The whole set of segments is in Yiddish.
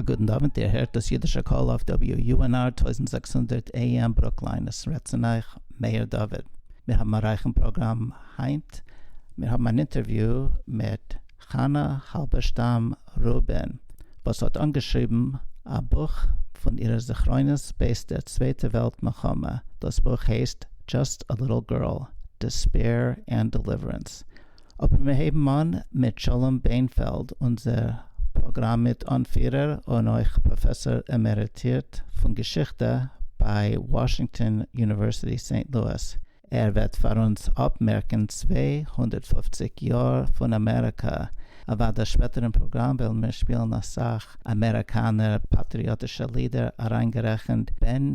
א גוטן אווענט, איר הערט דאס אידישע קול אויף WUNR טויזנט זעקס הונדערט AM ברוקליין, עס רעדט צון אייך מאיר דוד. מיר האבן א רייכן פראגראם היינט, מיר האבן אן אינטערוויו מיט חנה האלבערשטאם רובין וואס האט אנגעשריבן א בוך פון אירע זכרונות בעת דער צווייטע וועלט מלחמה, דאס בוך הייסט Just a Little Girl, Despair and Deliverance. אבער מיר הייבן אן מיט שלום בענפעלד אונזער פראגראם מיט אנפירער און אויך פראפעסאר עמעריטירט פון געשיכטע ביי וואשינגטאן יוניווערסיטי סעינט לואיס, ער וועט פאר אונז אפמערקן צוויי הונדערט פֿופֿציק יאר פון אמעריקא, אוודאי שפעטער אין פראגראם וועלן מיר שפילן אסאך אמעריקאנער פאטריאטישע לידער אריינגערעכנט בן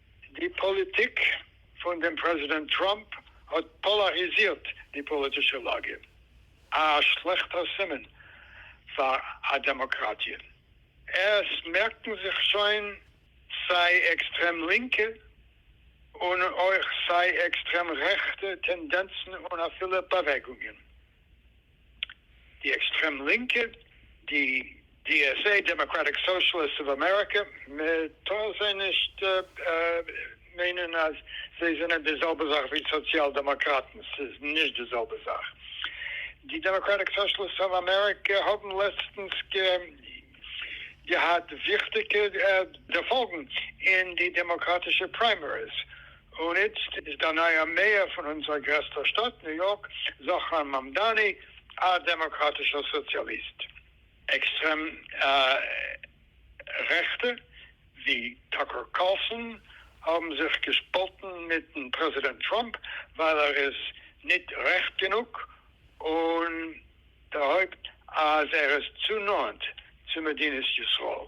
די פאליטיק פון דעם פרעזידענט טראמפ האט פאלאריזירט די פאליטישע לאגע, א שלעכטער סימן פאר א דעמאקראטיע. עס מערקן זיך שוין סיי עקסטרעם לינקע און אויך סיי עקסטרעם רעכטע טענדענצן און אפילו באוועגונגען. די עקסטרעם לינקע, די DSA, דעמאקראטיק סאושליסטס אוו אמעריקא, מ'טאר זיי נישט מיינען אז זיי זענען די זעלבע זאך ווי סאציאל דעמאקראטן, ס'איז נישט די זעלבע זאך. די דעמאקראטיק סאושליסטס אוו אמעריקא האבן לעצטנס געהאט וויכטיגע דערפאלגן אין די דעמאקראטישע פריימעריס, און איצט איז דער נייער מעיאר פון אונזער גרעסטער שטאט ניו יארק, זאכאר מאמדאני, א דעמאקראטישער סאציאליסט. עקסטרעם רעכטע ווי טאקער קארלסאן האבן זיך געשפאלטן מיטן פרעזידענט טראמפ ווייל ער איז ניט רעכט גענוג און דערהויבט אז ער איז צו נאענט צו מדינת ישראל.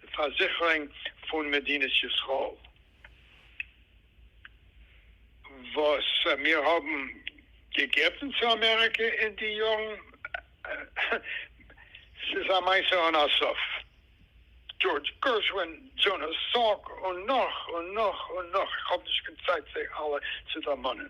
פארזיכערונג פון מדינת ישראל וואס מיר האבן געגעבן צו אמעריקע אין די יארן, ס'איז א מעשה אן א סוף, דזשארדזש גערשווין, דזשאנאס סאלק, און נאך און נאך און נאך, איך האב נישט קיין צייט זיי אלע צו דערמאנען.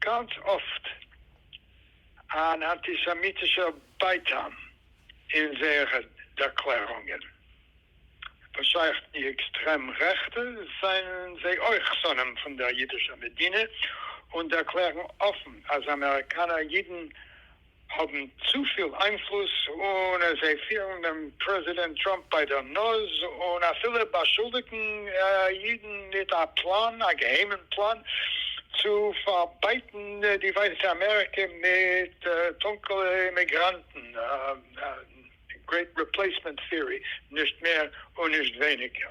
גאנץ אפט אן אנטיסעמיטישער בייטאן אין זייערע דערקלערונגען. וואס שייך די עקסטרעם רעכטע, זענען זיי אויך שונאים פון דער אידישער מדינה און דערקלערן אפן אז אמעריקאנער אידן, האבן צופיל איינפלוס און זיי פירן דעם פרעזידענט טראמפ ביי דער נאז און אפילו באשולדיגן אידן מיט א פלאן, א געהיימען פלאן, צו פארבייטן די ווייסע אמעריקע מיט טונקעלע אימיגראנטן, גרעיט ריפלעיסמענט טעארי נישט מער און נישט ווייניגער.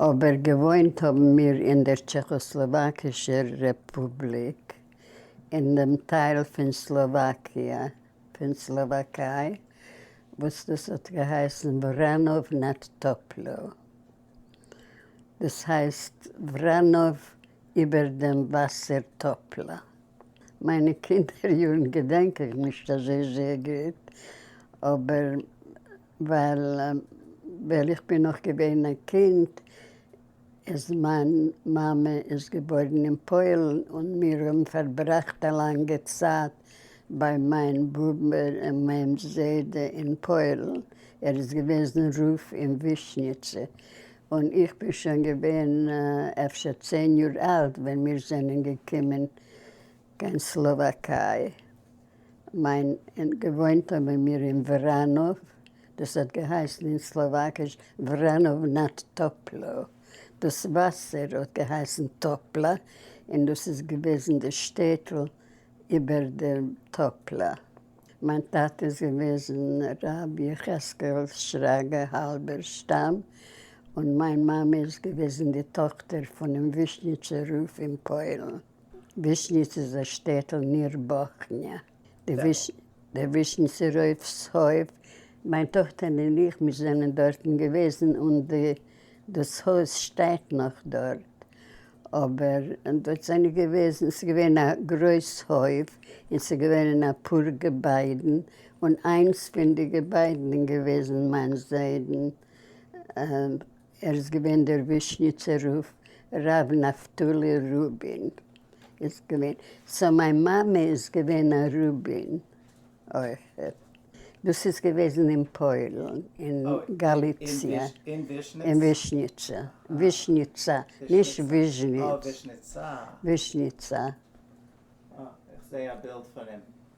אבער געוואוינט האבן מיר אין דער טשעכאסלאוואקישער רעפובליק, אין דעם טייל פון סלאוואקיע פון סלאוואקיי וואס דאס האט געהייסן וראנאוו נאד טופלא, דאס הייסט וראנאוו איבער דעם וואסער טופלא. מיינע קינדער יארן געדענק איך נישט אזוי זייער גוט, אבער ווייל ווען איך בין נאך געווען א קינד איז מיין מאמע איז געבוירן אין פוילן און מיר האבן פארבראכט א לאנגע צייט ביי מיין באבע און מיין זיידע אין פוילן, ער איז געוועזן רב אין ווישניצע, און איך בין שוין געווען אפשר צען יאר אלט ווען מיר זענען געקומען קיין סלאוואקיי. מיין געוואוינט האבן מיר אין וראנאוו, דאס האט געהייסן אין סלאוואקיש Vranov nad Topľou, דאס וואסער האט געהייסן טאפלא, און דאס איז געוועזן די שטעטל איבער דעם טאפלא. מיין טאטע איז געוועזן רבי יחזקאל שרגא האלבערשטאם, און מיין מאמע איז געוועזן די טאכטער פונעם ווישניצער רב אין פוילן. ווישניץ איז א שטעטל ניר באכניא. דער ווישניצער רב'ס הויף, מיין טאכטער און איך מיר זענען דארטן געוועזן און דאס הויז שטייט נאך דארט. אבער דארט זענען געוועזן, ס'איז געווען א גרויס הויף און ס'איז געווען אפאר געביידן, און איינס פון די געביידן איז געוועזן מיין זיידן ער איז געווען דער ווישניצער רב, ר' נפתלי רובין איז געווען, סאו מיין מאמע איז געווען א רובין אויך, דאס איז געוועזן אין פוילן, אין גאליציע, אין ווישניצע, ווישניצא, נישט וויזשניץ, ווישניצא. אה, איך זעה א בילד פון אים.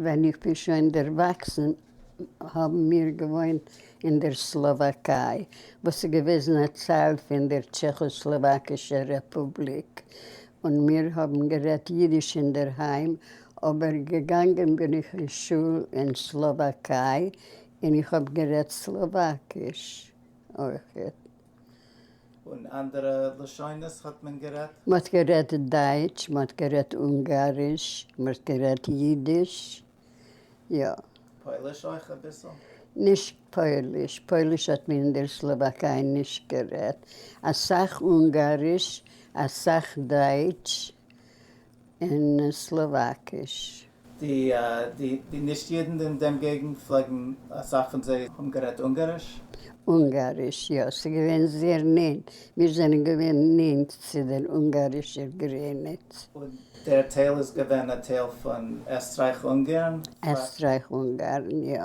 ווען איך בין שוין דערוואקסן האבן מיר געוואוינט אין דער סלאוואקיי, וואס איז געוועזן א טייל פון דער טשעכאסלאוואקישער רעפובליק, און מיר האבן גערעדט יידיש אינדערהיים, אבער געגאנגען בין איך אין שול אין סלאוואקיי און איך האב גערעדט סלאוואקיש אויכעט. און אנדערע לשונות האט מען גערעדט? מ'האט גערעדט דייטש, מ'האט גערעדט אונגאריש, מ'האט גערעדט אידיש, יא. פויליש אויך אביסל? נישט פויליש, פויליש האט מען אין דער סלאוואקיי נישט גערעדט, אסאך אונגאריש, אסאך דייטש. אין סלאוואקיש. די די די נישט אידן אין דעם געגנט פלעגן אסאך פון זיי האבן גערעדט אונגאריש? אונגאריש יא, ס'איז געווען זייער נענט, מיר זענען געווען נענט צו דער אונגארישער גרעניץ. און דער טייל איז געווען א טייל פון עסטרייך-אונגארן? עסטרייך-אונגארן יא.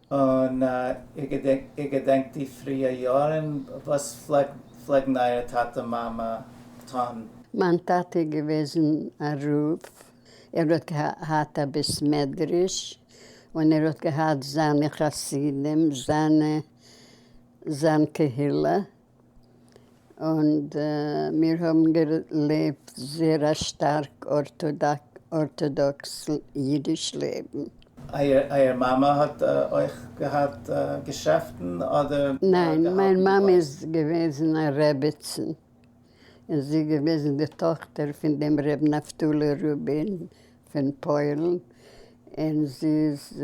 און איר געדענקט די פריע יארן? וואס פלעגן אייערע טאטע מאמע טון? מיין טאטע איז געוועזן א רב, ער האט געהאט א בית מדרש, און ער האט געהאט זיינע חסידים, זיין קהילה, און מיר האבן געלעבט זעהר א שטארק ארטאדאקס אידיש לעבן. אייער מאמע האט אויך געהאט געשעפטן אדער? ניין, מיין מאמע איז געוועזן א רעבעצן, און זי איז געוועזן די טאכטער פון דעם ר' נפתלי רובין פון פוילן, און זי איז.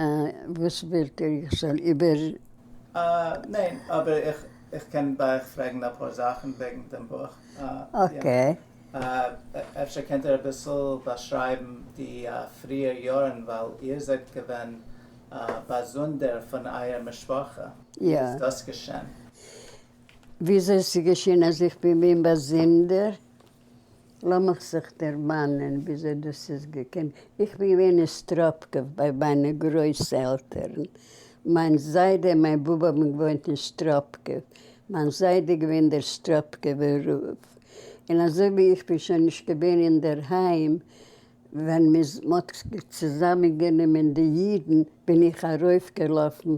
אה, וואס ווילט איר איך זאל איבער. אה, ניין, אבער איך איך קען בה איך פרעגן אפאר זאכן וועגן דעם בוך. אקעי. אה, אפשר קענט איר אביסל באשרייבן די פריער יארן ווייל איר זענט געווען באזונדער פון אייער משפחה. יא. ווי איז דאס געשען? וויאזוי ס'איז געשען אז איך בין געווען באזונדער? לאמיך זיך דערמאנען וויאזוי דאס איז געקומען, איך בין געווען אין סטראפקוב ביי מיינע גרויס עלטערן, מיין זיידע און מיין באבע האבן געוואוינט אין סטראפקוב, מיין זיידע איז געווען דער סטראפקובער רב, און אזוי ווי איך בין שוין נישט געווען אינדערהיים ווען מ'איז מ'האט צוזאמען גענומען די אידן, בין איך ארויף געלאפן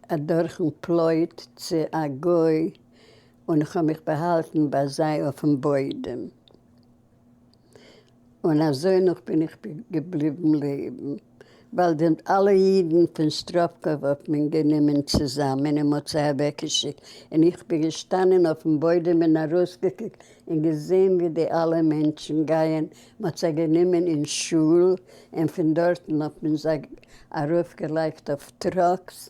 אדורכן פלויט צו א גוי, און איך האב מיך באהאלטן ביי זיי אויפן בוידעם, און אזוי נאך בין איך געבליבן לעבן, ווייל די אלע אידן פון סטראפקוב האט מען גענומען צוזאמען און מ'האט זיי אוועקגעשיקט, און איך בין געשטאנען אויפן בוידעם און ארויסגעקוקט און געזען ווי די אלע מענטשן גייען, מ'האט זיי גענומען אין שול, און פון דארטן האט מען זיי ארויפגעלייגט אויף טראקס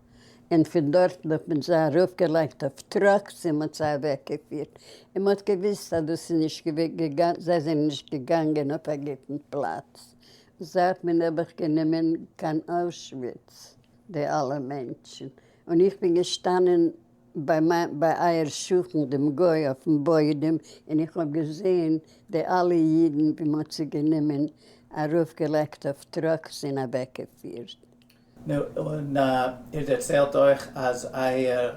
און פון דארטן האט מען זיי ארויפגעלייגט אויף טראקס און מ'האט זיי אוועקגעפירט, און מ'האט געוויסט אז דאס איז נישט געגאנגען, זיי זענען נישט געגאנגען אויף א גוטן פלאץ, און זיי האט מען נעבעך גענומען קיין אוישוויץ, די אלע מענטשן, און איך בין געשטאנען ביי מיין ביי אייער שכן דעם גוי אויפן בוידעם, און איך האב געזען די אלע אידן ווי מ'האט זיי גענומען ארויפגעלייגט אויף טראקס און אוועקגעפירט. נו, און איר דערציילט אויך אז אייער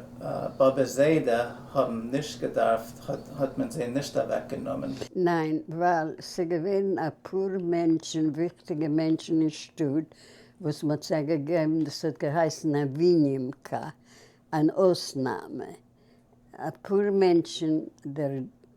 באבע זיידע האבן נישט געדארפט, האט מען זיי נישט אוועק גענומען? ניין, ווייל ס'געווען אפאר מענטשן, וויכטיגע מענטשן אין שטאט, וואס מ'האט זיי געגעבן, דאס האט געהייסן א ווינימקא, אן אויסנאם, אפאר מענטשן, דער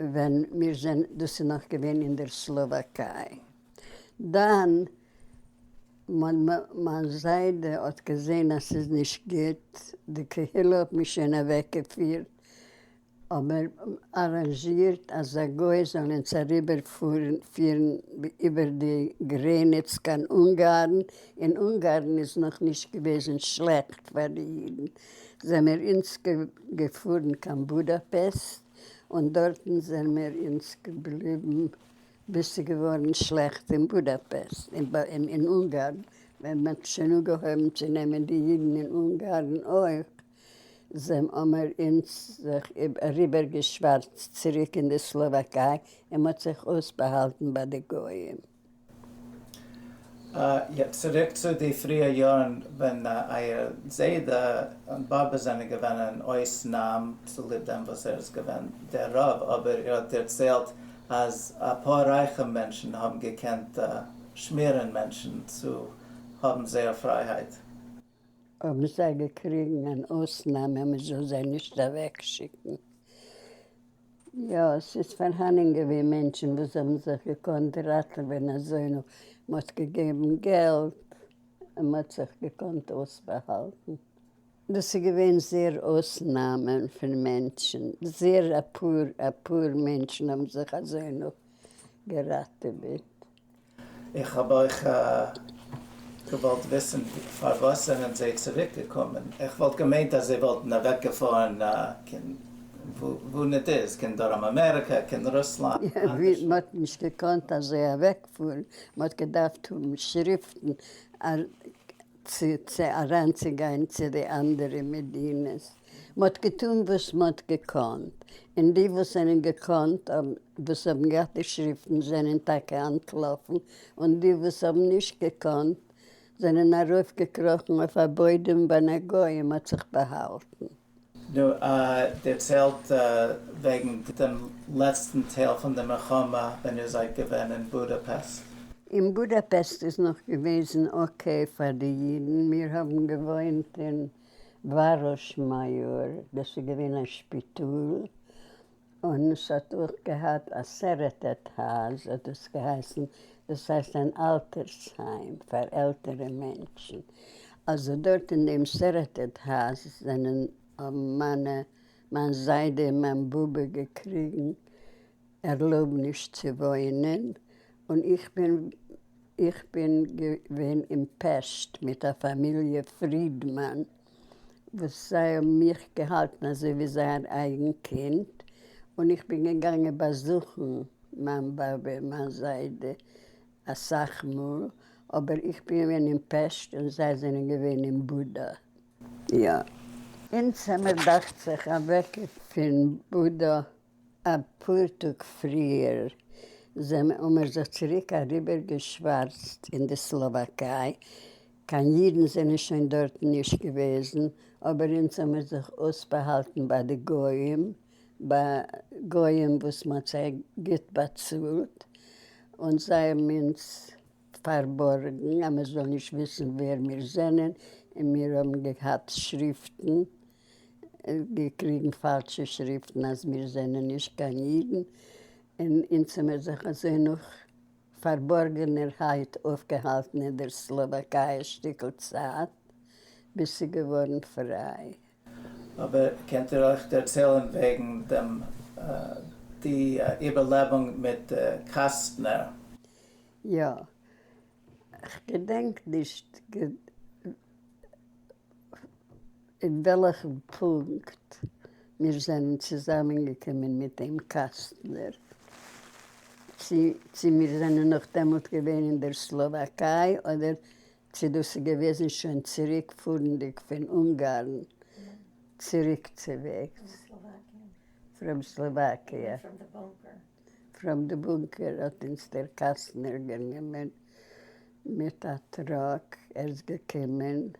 ווען מיר זענען, דאס איז נאך געווען אין דער סלאוואקיי, דאן מיין זיידע האט געזען אז ס'איז נישט גוט, די קהילה האט מיר שוין אוועקגעפירט, אבער אראנזשירט אז א גוי זאל אונז אריבערפירן איבער די גרעניץ קיין אונגארן, אין אונגארן איז נאכנישט געוועזן שלעכט פאר די אידן, זעמער אונז געפארן קיין בודאפעסט און דארטן זעמער אונז געבליבן ביז ס'געווארן שלעכט אין בודאפעסט, אין אונגארן ווען מ'האט שוין אנגעהויבן צו נעמען די אידן אין אונגארן אויך, זעמער אונז זיך אריבערגעשווארצט צוריק אין די סלאוואקיי און מ'האט זיך אויסבאהאלטן ביי די גויים. יעצט צוריק צו די פריע יארן ווען אייער זיידע און באבע זענען געווען אין אויסנאם צוליב דעם וואס ער איז געווען דער רב, אבער איר האט דערציילט אז אפאר רייכע מענטשן האבן געקענט שמירן מענטשן צו האבן זייער פרייהייט. האבן זיי געקריגן אן אויסנאם אז מען זאל זיי נישט אוועקשיקן. יא, ס'איז פארהאנען געווען מענטשן וואס האבן זיך געקאנט ראטעווען אזוינוג מ'האט געגעבן געלט און מ'האט זיך געקאנט אויסבאהאלטן. דאס איז געווען זייער אויסנאמען פון מענטשן, זייער אפאר אפאר מענטשן האבן זיך אזוינוג געראטעוועט. איך האב אויך געוואלט וויסן פארוואס זענען זיי צוריק געקומען, איך וואלט געמיינט אז זיי וואלטן אוועק געפארן קיין וואו ניט איז, קיין דרום אמעריקא, קיין רוסלאנד, אנדערש. מען האט נישט געקאנט אזוי אוועק פארן, מען האט געדארפט האבן שריפטן צו אריינצוגיין צו די אנדערע מדינות. מ'האט געטון וואס מ'האט געקאנט, און די וואס זענען געקאנט וואס האבן געהאט די שריפטן זענען טאקע אנטלאפן, און די וואס האבן נישט געקאנט זענען ארויף געקראכן אויף א בוידעם ווען א גוי האט זיך באהאלטן. נו, דערציילט וועגן דעם לעצטן טייל פון די מלחמה ווען איר זייט געווען אין בודאפעסט. אין בודאפעסט איז נאך געוועזן אקעי פאר די אידן, מיר האבן געוואוינט אין. בראש מאיאר, דאס איז געווען א שפיטאל, און עס האט אויך געהאט א סערעטעט האוז האט דאס געהייסן, דאס הייסט אן אלטערס היים פאר עלטערע מענטשן, אלזא דארט אין דעם סערעטעט האוז זענען האבן מיינע מיין זיידע און מיין באבע געקריגן, ערלויבן נישט צו וואוינען, און איך בין איך בין געווען אין פעסט מיט א פאמיליע פרידמאן וואס זיי האבן מיך געהאלטן אזוי ווי זייער אייגן קינד, און איך בין געגאנגען באזוכן מיין באבע און מיין זיידע אסאך מאל, אבער איך בין געווען אין פעסט און זיי זענען געווען אין בודא, יא. אונז האמיר דאכט זיך אוועק פון בודא. א פאר טאג פריער זענען האמער זיך צוריק אריבער געשווארצט אין די סלאוואקיי, קיין אידן זענען שוין דארטן נישט געוועזן, אבער אונז האמער זיך אויסבאהאלטן ביי די גוים, ביי גוים וואס מען האט זיי גוט באצאלט, און זיי האבן אונז פארבארגן אז מען זאל נישט וויסן ווער מיר זענען, און מיר האבן געהאט שריפטן. געקריגן פאלשע שריפטן אז מיר זענען נישט קיין אידן, און אונז האבן מיר זיך אזוי נאך פארבארגענערהייט אויפגעהאלטן אין דער סלאוואקיי א שטיקל צייט, ביז ס'איז געווארן פריי. אבער קענט איר אויך דערציילן וועגן דעם די איבערלעבונג מיט קאסטנער? יא. כ'געדענק נישט. אין וועלכן פונקט מיר זענען צוזאמענגעקומען מיט דעם קאסטנער, צי צי מיר זענען נאך דעמאלט געווען אין דער סלאוואקיי אדער צי דאס איז געוועזן שוין צוריק פארנדיג פון אונגארן צוריקצוועגס פראם סלאוואקיע. פראם די בונקער האט אונז דער קאסטנער גענומען מיט א טראק, ער איז געקומען.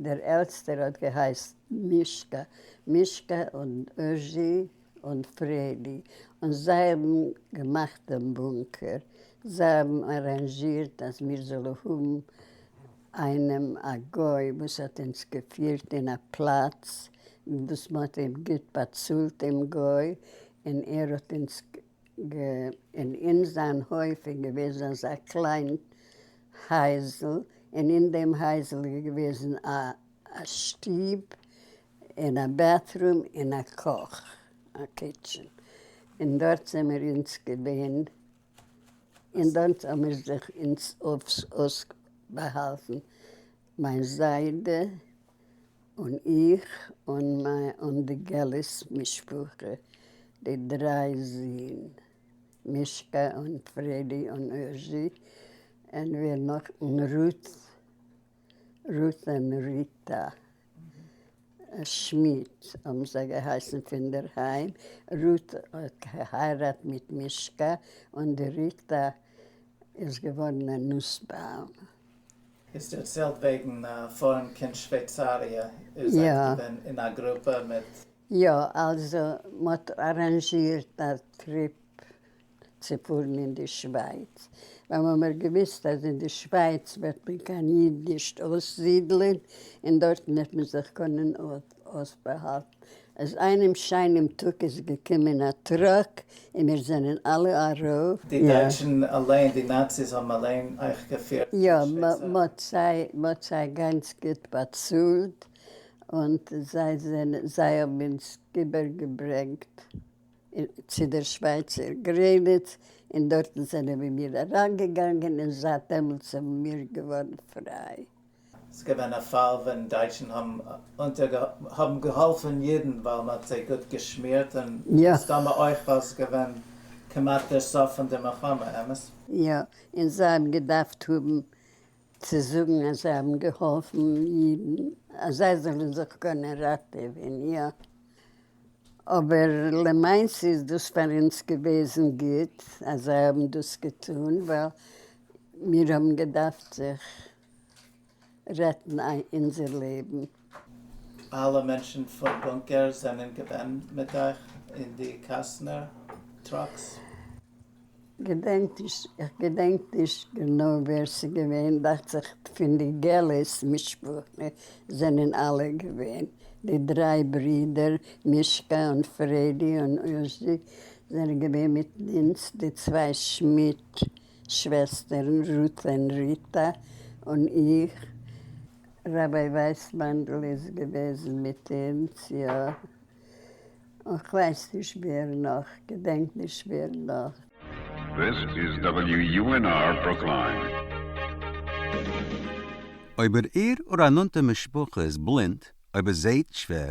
דער עלטסטער האט געהייסט מישקע, מישקע און אוזשי און פרעדי, און זיי האבן געמאכט דעם בונקער, זיי האבן אראנזשירט אז מיר זאלן האבן איינעם א גוי וואס האט אונז געפירט אין א פלאץ וואס מען האט אים גוט באצאלט דעם גוי, און ער האט אונז. ג און אין זײַן הױף איז געװעזן אַזאַ קלײן הײַזל, און אין דעם הײַזל איז געװעזן אַ אַ שטוב, און אַ בעטרום, און אַ קאָך, אַ קיטשען, און דאָרט זעמיר אונדז געװען, און דאָרט האָמיר זיך אונדז אױף אױסבאַהאַלטן, מײַן זײדע, און איך און מיין און די געלעס משפחה, די דריי זין, מישקע און פרעדי און אוזשי, און ווער נאך? און רות, רות און ריטא שמידט האבן זיי געהייסן פונדערהיים, רות האט געהייראט מיט מישקע, און די ריטא איז געווארן א נוסבאום. האסט דערציילט וועגן פארן קיין שווייצאריע, איר זייט געווען אין א גרופע מיט. יא, אלזא מ'האט אראנזשירט א טריפ צו פארן אין די שווייץ, ווייל מ'האמער געוויסט אז אין די שווייץ וועט מען קיין איד נישט אויסזידלען, און דארטן וועט מען זיך קענען אויף. האסט באהאלטן אז איינעם שיינעם טאג איז געקומען א טראק און מיר זענען אלע ארויף. די דייטשן אליין, די נאציס האבן אליין אייך געפירט צום יא, שוויצאר. מ'האט זיי, מ'האט זיי גאנץ גוט באצאלט, און זיי זענען, זיי האבן אונז איבער געברענגט צו דער שווייצער גרעניץ, און דארטן זענען מיר אריינגעגאנגען, און זייט דעמאלטס זענען מיר געווארן פריי. ס'איז געווען א פאל ווען דייטשן האבן געהאלפן אידן ווייל מ'האט זיי גוט געשמירט און מסתמא אויך ווייל ס'איז געווען כמעט דער סוף פון די מלחמה, אמת? יא, און זיי האבן געדארפט האבן צו זאגן אז זיי האבן געהאלפן אידן אז זיי זאלן זיך קענען ראטעווען, יא. אבער למעשה איז דאס פאר אונז געוועזן גוט אז זיי האבן דאס געטון ווייל מיר האבן געדארפט זיך רעטן אונזער לעבן. אלע מענטשן פון בונקער זענען געווען מיט אייך אין די קאסטנער טראקס? געדענק נישט, איך געדענק נישט גענוי ווער ס'געווען, דאכט זיך פון די געלעס משפחה זענען אלע געווען, די דריי ברידער מישקע און פרעדי און אושדי זענען געווען מיט אונז, די צוויי שמידט שוועסטערן רות'לען ריטא און איך. רבי ווייסמאנדל איז געוועזן מיט אונז, יא. און כ'ווייס נישט ווער נאך, געדענק נישט ווער נאך. This is WUNR Brookline. אויב איר איר אור א נאנטע משפחה איז בלינד, אויב ער זעהט שווער,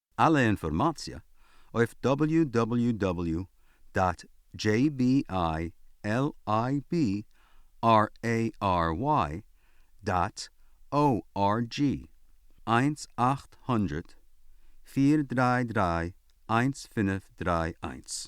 אלע אינפארמאציע אויף דאבעליו דאבעליו דאבעליו דאט דזשעי בי איי על איי בי אר עי אר וויי דאט או אר דזשי, איינס אַכט הונדערט פֿיר דרײַ דרײַ איינס פֿינף דרײַ איינס.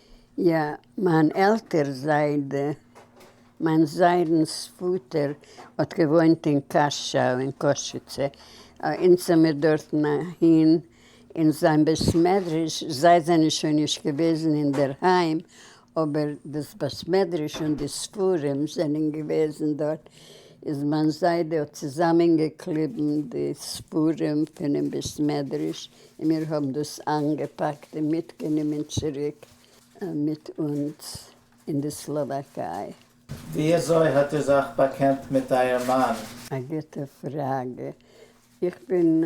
יא, מיין עלטער זיידע, מיין זיידנ'ס פאטער, האט געוואוינט אין קאשוי אין קאשיצע, אונז זעמיר דארטן אהין אין זיין בית מדרש, זיי זענען שוין נישט געוועזן אינדערהיים, אבער דאס בית מדרש און די ספרים זענען געוועזן דארט, איז מיין זיידע האט צוזאמען געקליבן די ספרים פונעם בית מדרש און מיר האבן דאס איינגעפאקט און מיטגענומען צוריק מיט אונז אין די סלאוואקיי. ווי אזוי האט איר זיך באקענט מיט אייער מאן? א גוטע פראגע. איך בין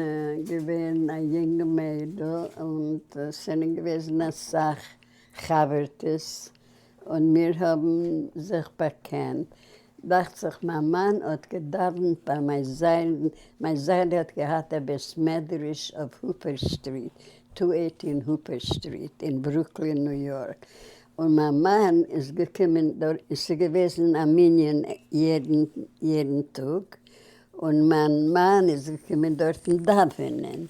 געווען א יונג מיידל און ס'זענען געוועזן אסאך חבר'טעס און מיר האבן זיך באקענט, דאכט זיך מיין מאן האט געדאווענט ביי מיין זיידן, מיין זיידע האט געהאט א בית מדרש אויף הופער סטריט, טו עיטי און הופער סטריט אין ברוקלין ניו יארק, און מיין מאן איז געקומען דארט, און ס'איז געוועזן א מנין יעדן טאג, און מיין מאן איז געקומען דארטן דאווענען,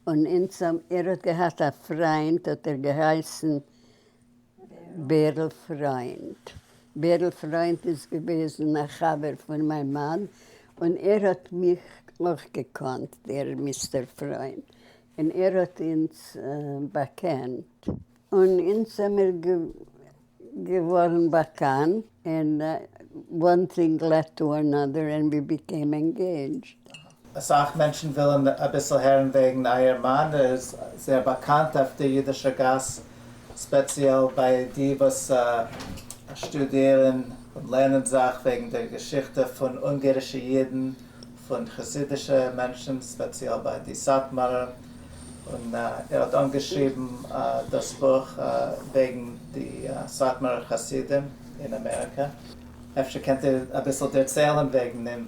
און אונז האבן, ער האט געהאט א פריינט האט ער געהייסן. בערל פריינד. בערל פריינד איז געוועזן א חבר פון מיין מאן, און ער האט מיך אויך געקאנט, דער מיסטער פריינד, און ער האט אונז באקענט, און אונז זעמיר געווארן באקאנט, און וואן טינג לעד טו אנאדער, און ווי ביקעם ענגעידזשד. אסאך מענטשן ווילן אביסל הערן וועגן אייער מאן, ער איז זייער באקאנט אויף די אידישע גאס, ספעציעל ביי די וואס שטודירן און לערנען זאך וועגן דער געשיכטע פון אונגערישע אידן, פון חסידישע מענטשן, ספעציעל ביי די סאטמארער, און ער האט אנגעשריבן דאס בוך וועגן די סאטמארער חסידים אין אמעריקא, אפשר קענט איר אביסל דערציילן וועגן אים?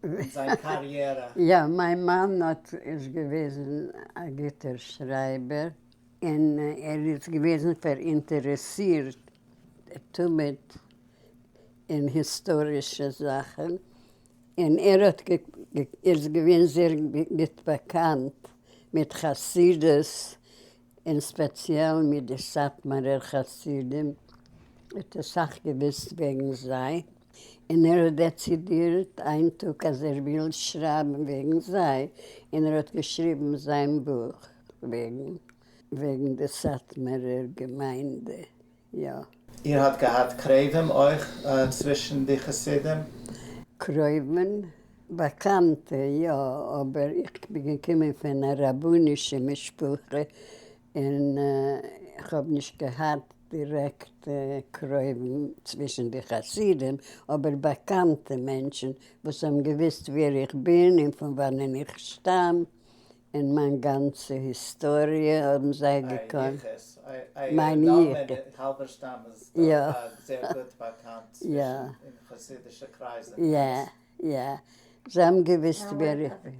אין זיין קאריערע? יא, מיין מאן האט איז געוועזן א גוטער שרייבער, און ער איז געוועזן פאראינטערעסירט תמיד אין היסטארישע זאכן, און ער האט איז געווען זייער גוט באקאנט מיט חסידות, און ספעציעל מיט די סאטמארער חסידים, האט אסאך געוואוסט וועגן זיי. און ער האט דעצידירט איין טאג אז ער וויל שרייבן וועגן זיי, און ער האט געשריבן זיין בוך וועגן וועגן די סאטמארער געמיינדע, יא. איר האט געהאט קרבים אויך צווישן די חסידים? קרובים? באקאנטע יא, אבער איך בין געקומען פון א רבנישע משפחה, און כ'האב נישט געהאט דירעקט קרובים צווישן די חסידים, אבער באקאנטע מענטשן וואס האבן געוויסט ווער איך בין און פון וואנען איך שטאם, און מיין גאנצע היסטאריע האבן זיי געקענט. מיין יחוס. האלבערשטאם איז דאך זייער גוט באקאנט אין חסידישע קרייזן. יא, יא. זיי האבן געוויסט ווער איך בין.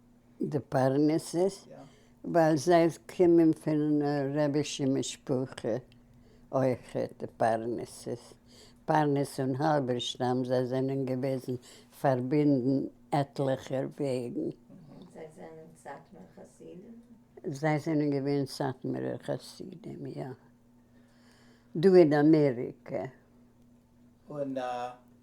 די פרנסות ווייל זיי קומען פון רבישע משפחה אויכעט די פרנסות, פרנס און האלבערשטאם זיי זענען געוועזן פארבינדן עטליכער וועגן. זיי זענען סאטמאר חסידים? זיי זענען געווען סאטמארער חסידים יא דא אין אמעריקע. און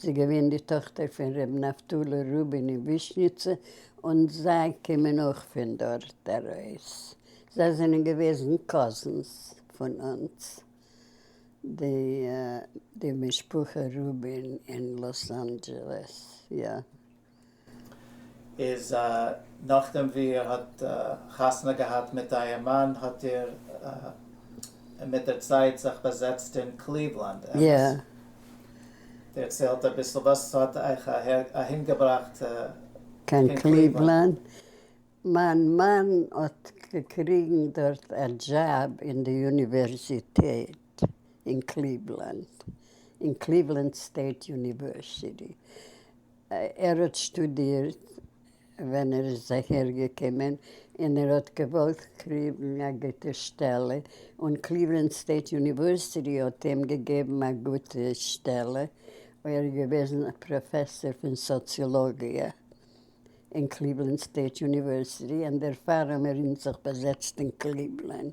זי איז געווען די טאכטער פון ר' נפתלי רובין אין ווישניצע און זיי קומען אויך פון דארט ארויס, זיי זענען געוועזן קאזינס פון אונז די די משפחה רובין אין לאס אנדזשעלעס יא. איז נאכדעם ווי איר האט חתונה געהאט מיט אייער מאן האט איר מיט דער צייט זיך באזעצט אין קליוולאנד, אמת? דערציילט אביסל וואס האט אייך אהינגעבראכט קיין קליוולאנד? מיין מאן האט געקריגן דארט א דזשאב אין די יוניווערזיטעט אין קליוולאנד, אין קליוולאנד סטעיט יוניווערסיטי, ער האט שטודירט ווען ער איז אהער געקומען און ער האט געוואלט קריבן א גוטע שטעלע און קליוולענד סטעיט יוניווערסיטי האט איהם געגעבן א גוטע שטעלע ער איז געוועזן א פראפעסער פון סאציאלאגיע און קליוולענד סטעיט יוניווערסיטי און דערפאר האמיר אונז זיך באזעצט אין קליוולענד.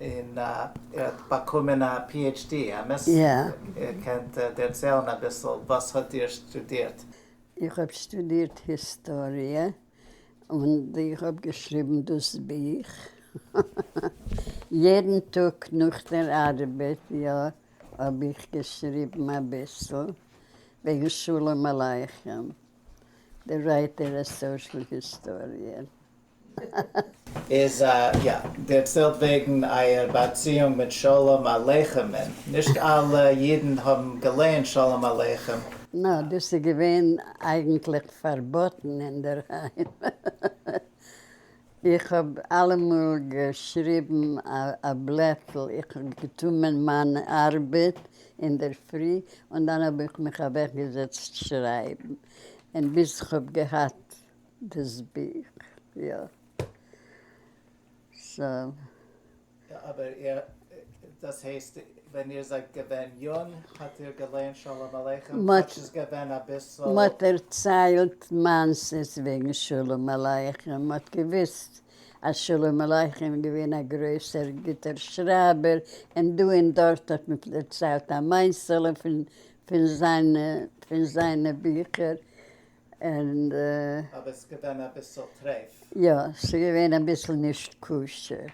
און ער האט באקומען א PHD, אמת? איר קענט דערציילן אביסל וואס האט איר שטודירט? איך האב שטודירט היסטאריע און איך האב געשריבן דאס בוך יעדן טאג נאך דער ארבעט, יא האב איך געשריבן אביסל וועגן שלום עליכם, דער ווייטערע סאשעל היסטאריער. איז א יא, דער צילט וועגן אייער באציאונג מיט שלום עליכם'ן, נישט אלע אידן האבן געלערנט שלום עליכם. נא, דאס איז געווען אייגנטליך פארבאטן אינדערהיים. איך האב אלעמאל געשריבן א בלעטל, איך האב געטומען מיין ארבעט אינדערפרי און דאן האב איך מיך אוועקגעזעצט שרייבן, און ביז כ'האב געהאט. דאס בוך, יא. סא. אבער איר, דאס הייסט ווען איר זייט געווען יונג האט איר געלייענט שלום עליכם כאטש ס'איז געווען אביסל. מ'האט דערציילט מעשה'ס וועגן שלום עליכם, מ'האט געוויסט אז שלום עליכם איז געווען א גרויסער גוטער שרייבער, און דא און דארט האט מען דערציילט א מעשה'לע פון זיינע ביכער. אבער ס'איז געווען אביסל טרעף. יא, ס'איז געווען אביסל נישט כשר,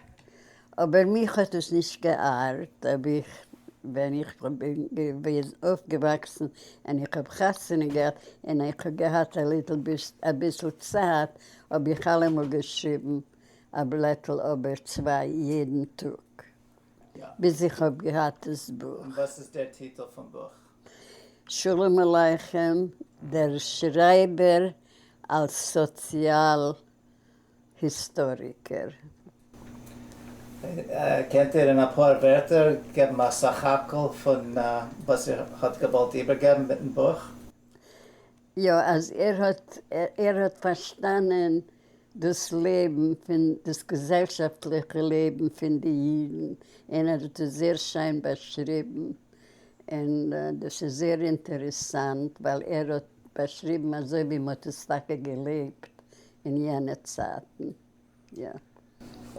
אבער מיך האט עס נישט געארט, אויב איך ווען איך בין געווען אויפגעוואקסן און איך האב חתונה געהאט און איך האב געהאט א ליטל ביסט אביסל צייט האב איך אלעמאל געשריבן א בלעטל אבער צוויי יעדן טאג. ביז איך האב געהאט דאס בוך. און וואס איז דער טיטל פון בוך? שלום עליכם, דער שרייבער אלס סאציאל היסטאריקער. קענט איר אין אפאר ווערטער געבן א סך הכל פון וואס איר האט געוואלט איבערגעבן מיטן בוך? יא, אז ער האט ער האט פארשטאנען דאס לעבן פון דאס געזעלשאפטליכע לעבן פון די אידן און ער האט עס זייער שיין באשריבן און דאס איז זייער אינטערעסאנט ווייל ער האט באשריבן אזוי ווי מען האט עס טאקע געלעבט אין יענע צייטן יא.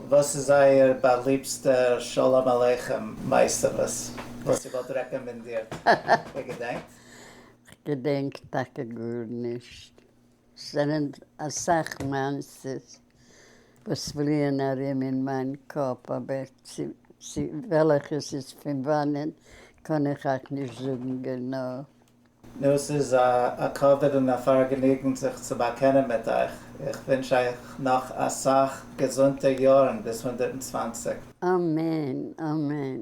וואס איז אייער באליבסטע שלום עליכם מעשה וואס איר וואלט רעקאמענדירט? איר געדענקט? כ'געדענק טאקע גארנישט. ס'זענען אסאך מעשיות וואס פליען ארום אין מיין קאפ אבער צו וועלעכע ס'איז פון וואנען קען איך אייך נישט זאגן גענוי. נו, ס'איז א כבוד און א פארגעניגן זיך צו באקענען מיט אייך. איך ווינטש אייך נאך אסאך געזונטע יארן ביז הונדערט און צוואנציג. אמן אמן.